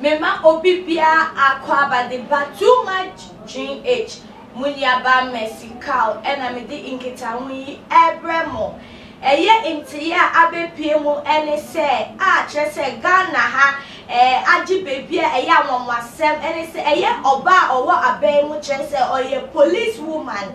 Mema obi biara akwaaba de ba too much GH mo nuabaa Mercy Carl ɛna mede nkitaho yi ɛbrɛ mo. Ɛyɛ ntere a abɛpue mu ne sɛ a kyerɛ sɛ Ghana ha eh agye baabi a ɛyɛ anwanwasɛm ne sɛ ɛyɛ ɔbaa a ɔwɔ aban mu kyerɛ sɛ ɔyɛ police woman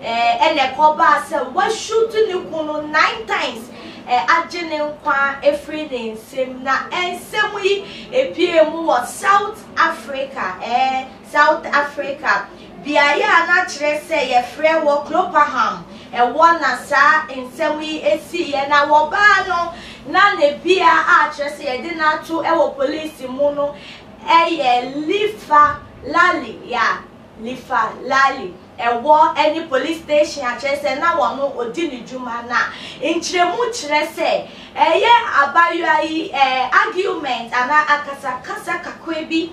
eh na ɛkɔbaa sɛ wa shoot ne kunu nine times eh agye ne nkwa afiri ne nsam na ɛnsɛm yi epuee mu wɔ South Africa eh South Africa, beaeɛ a na kyerɛ sɛ yɛfrɛ wɔ Klopaham ɛwɔ na saa nsɛm yi siiɛ na wɔbaa no na ne bea a kyerɛ sɛ yɛde no ato wɔ police mu no yɛ Lifa Lali ya Lifa Lali ɛwɔ ne police station a kyerɛ sɛ na wɔno ɔdi ne dwuma na nkyerɛmu kyerɛ sɛ ɛyɛ abayewa yi ɛɛ argument anaa akasakasa kakra bi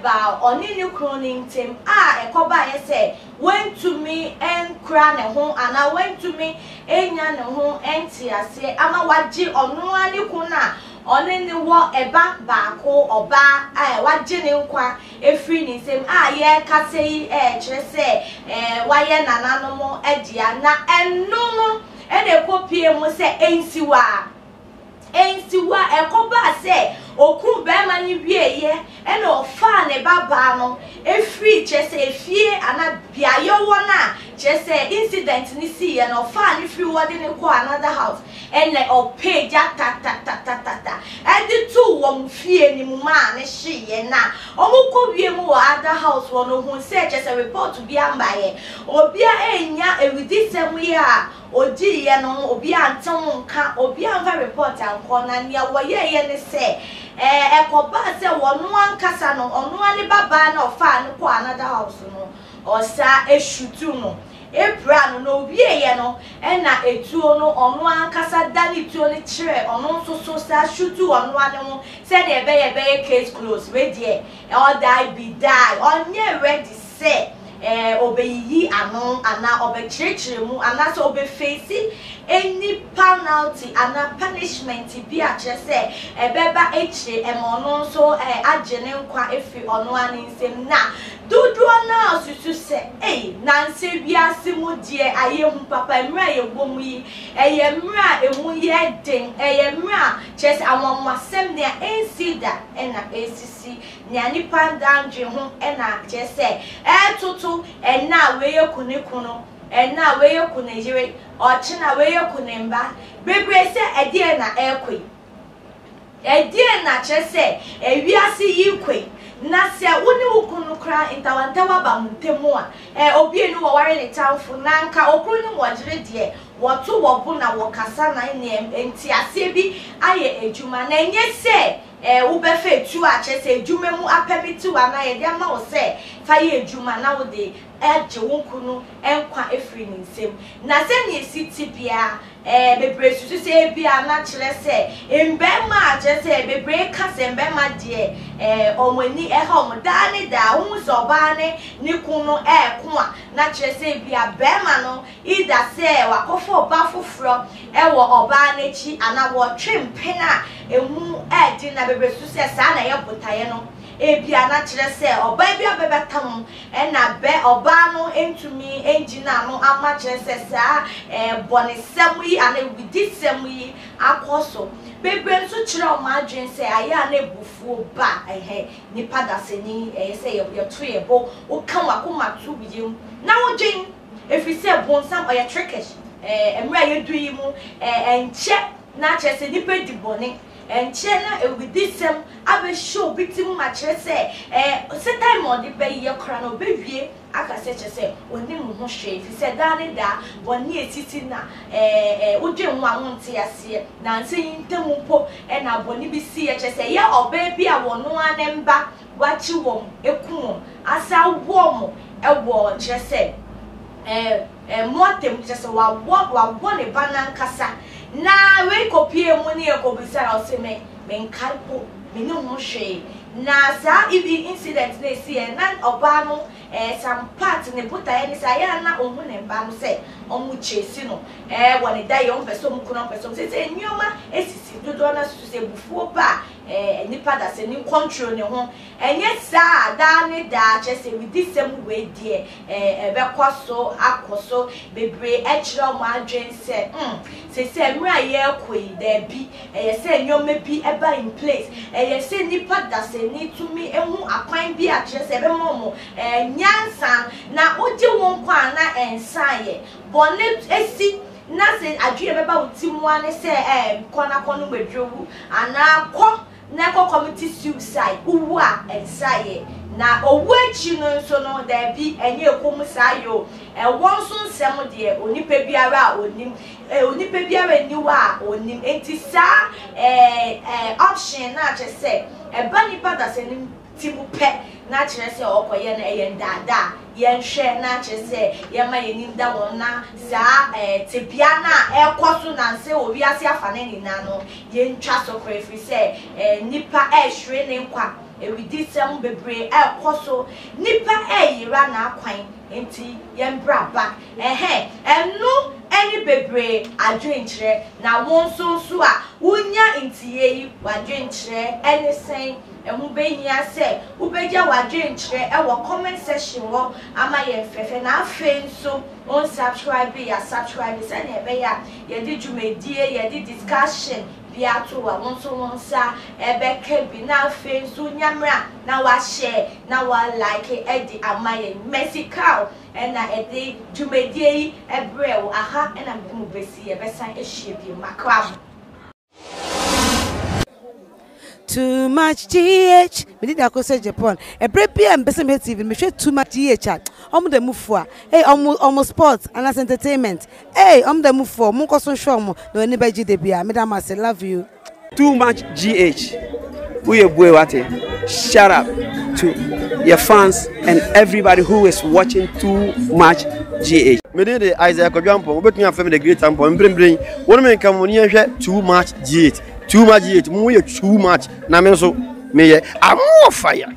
baa ɔne ne kunu no ntam a ɛkɔbaeɛ sɛ wantumi ankura ne ho anaa wantumi annya ne ho nteaseɛ ama wagye ɔno ara ne kunu a ɔne no wɔ ba baako, ɔbaa a wagye ne nkwa afiri ne nsam a yɛrekasa yi kyerɛ sɛ wayɛ nananom dea na ɛno no na ɛkɔpuee mu sɛ nsiwaa. Enti wo a ɛkɔbaa sɛ ɔkuu barima no wieeɛ na ɔfaa ne babaa no firii kyerɛ sɛ efie anaa beaeɛ ɔwɔ no a kyerɛ sɛ incident no siiɛ no ɔfaa no firii hɔ de no kɔɔ another house ɛna ɔpɛɛ gya tatatatatata de too wɔn fie no mu maa no hyeeɛ na wɔkɔ wie mu wɔ other house hɔ no ɔhuu sɛ kyerɛ sɛ report biara mmaeɛ obiara annya awudisɛm yi a ɔdiiɛ no ho, obiara ante ho nka, obiara amfa report ankɔ, na deɛ wɔyɛeɛ ne sɛ, ɛɛ, ɛkɔbaa sɛ ɔno ankasa no, ɔno ara ne babaa no a ɔfaa no kɔɔ another house no, ɔsan shutuu no, piraa no, na ɔwieeɛ no, ɛnna etuo no, ɔno ara ankasa danee tuo no kyerɛɛ ɔno nso so san shutuu ɔno ara ne ho, sɛdeɛ ɛbɛyɛ a ɛbɛyɛ case closed, wei deɛ, ɔdae bi dae, ɔnyɛɛ ready sɛ. sɛ obeyiyi ano anaa ɔbɛkyerɛkyerɛ mu anaasɛ obefeesi any panalty anaa punishment bi a kyerɛ sɛ ɛbɛba akyire ɛma ɔno nso agye ne nkwa afiri ɔno ara ne nsam na dodoɔ no ara susu sɛ ei nansɛ wiase mu deɛ ayɛ hu papa mmerɛ a yɛwɔ mu yi ɛyɛ mmerɛ a ɛmu yɛ den ɛyɛ mmerɛ a kyerɛ sɛ anwanwasɛm nea ɛnsii da ɛna ɛresisi Nea nnipa daa ndwen ho na kyerɛ sɛ ɛɛtoto, ɛnnɛ a wei aku ne kunu, ɛnnɛ a wei aku ne yere, ɔkyena wei aku ne mma, bebree sɛ ɛdeɛn na ɛɛkɔ yi? Ɛdeɛn na kyerɛ sɛ ɛwiase yi rekɔ yi? Na sɛ wo ne wo kunu koraa ntawantawa ba mo ntam a, ɛ, obie no wɔware ne tamfo, na anka ɔkunu ne wɔyere deɛ wɔto wɔbo na wɔkasa na nneɛm nteaseɛ bi ayɛ adwuma, na ɛnyɛ sɛ. Ɛ, wobɛfa etuo a kyerɛ sɛ adwuma mu apɛmitiw anaa yɛde ama wo sɛ fa yɛ adwuma na wode agye wo kunu nkwa afiri ne nsam. Na sɛnea esi te biara, ɛ, bebree susu sɛ ebia na kyerɛ sɛ mmarima a, kyerɛ sɛ bebree ka sɛ mmarima deɛ, ɛ, wɔn ani ha wɔn daa ne daa, wohu sɛ ɔbaa ne ne kunu no reko a, na kyerɛ sɛ ebia barima no Yi da sɛ wakɔfa ɔba foforɔ wɔ ɔbaa no akyi anaa wɔtwe mpena a ɛmu yɛ den na bebree susu sɛ saa na ɛyɛ botaeɛ no. Ebia na kyerɛ sɛ ɔbaa bi abɛbata mu na bɛ ɔbaa no ntumi ngyina ano amma kyerɛ sɛ saa bɔnesɛm yi anaa awudisɛm yi akɔ so. Bebree nso kyerɛ wɔn adwene sɛ ayɛ a na abufuo ba nnipa dasani, ɛyɛ sɛ yɛto yɛn bo, woka w'akoma to wiem na wodwen. Ɛfiri sɛ bonsam ɔyɛ trickish eh, mmerɛ a yɛdu yi mu eh, ɛnkyɛ na kyerɛ sɛ nipa di bɔne, ɛnkyɛ na awudisɛm abɛhyɛ obi ti mu ma kyerɛ sɛ eh, satan ma ɔde ba yi yɛ koraa no ɔbɛwie aka sɛ kyerɛ sɛ ɔnim wo ho hwee, ɛfiri sɛ daa ne daa bɔne ɛsisi na eh, eh, wodwen ho a wonte aseɛ, nansa yi ntam mpo na bɔne bi siiɛ, kyerɛ sɛ ɛyɛ ɔbaa bi a wɔno ara ne mba wɔakye wɔn, akum wɔn, asan awoɔ wɔn wɔ, kyerɛ sɛ, ɛɛ, ɛɛ, mortem, kyerɛ sɛ, wɔawɔ, wɔawɔ ne ba no ankasa. Na wei kɔpuee mu ne ɛkɔbisaa no, ɔse, Me, menkae mpo, mennim ho hwee. Na saa ED incident no a ɛsiiɛ, na ɔbaa no, ɛɛ, some part, ne botaeɛ ne sɛ, ayɛ a na ɔhu ne mma no sɛ wɔchase no, ɛɛ, wɔ ne daeɛ, wɔmpɛ sɛ wɔku no, wɔmpɛ sɛ wɔn, seesei nneɛma asisi, dodoɔ no ara susu sɛ abufuo ba a, eh, nipa da sɛ ne nkɔntro ne ho, ɛnyɛ saa a daa ne daa, kyerɛ sɛ awudisɛm wei deɛ eh, ɛbɛkɔ so akɔ so, bebree akyerɛ wɔn adwene sɛ mm, sesɛ mmerɛ a yɛrekɔ yi, daabi, ɛyɛ sɛ nneɛma bi ba in place, ɛyɛ sɛ nipa da sɛ ni tumi hu akwan bi a kyerɛ sɛ ɛbɛma wɔn eh, nyansa na wogye wɔn nkwa a na nsa ayɛ, bɔne si na se adwene bɛba wo ti mu ara ne sɛ eeh kɔ na kɔ nom aduro wu anaa kɔ na kɔ commiti suicide wo wu a ɛnsa yɛ na owu akyi no nso no daabi ɛnyɛ ɛkɔ mu saa yɛ o ɛwɔ nso nsɛm deɛ onipa biara a onim eh onipa biara nni hɔ a onim enti saa eh eh option no a kyɛ sɛ ɛba nipa dasanim ti mu pɛ na akyerɛ sɛ wɔkɔyɛ no, ɛyɛ nnaadaa. Yɛnhwɛ na akyerɛ sɛ yɛma yɛn anim da wɔn na saa tebea no a ɛrekɔ so nnansa wɔ wiase afanan nyinaa no, yɛntwa so koraa ɛfiri sɛ nnipa rehwere ne nkwa, awudisɛm bebree rekɔ so, nnipa reyera n'akwan, enti yɛn berɛ aba. Ɛhɛ, ɛno ne bebree adwenkyerɛ. Na wo nso nso a wonya nteeɛ yi, w'adwenkyerɛ ne sɛn? Ɛho bɛhia sɛ wobɛgya w'adwenkyerɛ wɔ comment section hɔ ama yɛn fɛfɛ na afei nso wo nsubscribe yɛ a subscribe sɛnea ɛbɛyɛ a yɛde dwumadie, yɛde discussion bi ato hɔ a wo nso wo nsa bɛka bi na afei nso nya mmerɛ a na wa share na wa like de ama yɛn. Mercy Carl na ɛde dwumadie yi brɛɛ wo, aha na mede mo bɛsi, yɛbɛsan ahyia bio. Makra mo. Too much GH. Me did ako say Japan. Ebre bi a mpese me TV, me hwe too much GH. Omo da mufu a. Hey, omo omo sports and as entertainment. Hey, omo da mufu. Omo nkoso hwe omo. No ani beji de bia. Me da mase. Love you. Too much GH. Woyɛ bue wate. Shout out to yɛ fans and everybody who is watching too much GH. Me din de Isaiah Kwadwo Ampong, wobɛtumi afrɛ me The Great Ampong, mprempren yi, wo ne me nka mo ani nhwɛ Too Much GH, Too Much GH, mo yɛ too much, na me nso meyɛ I'm more fire.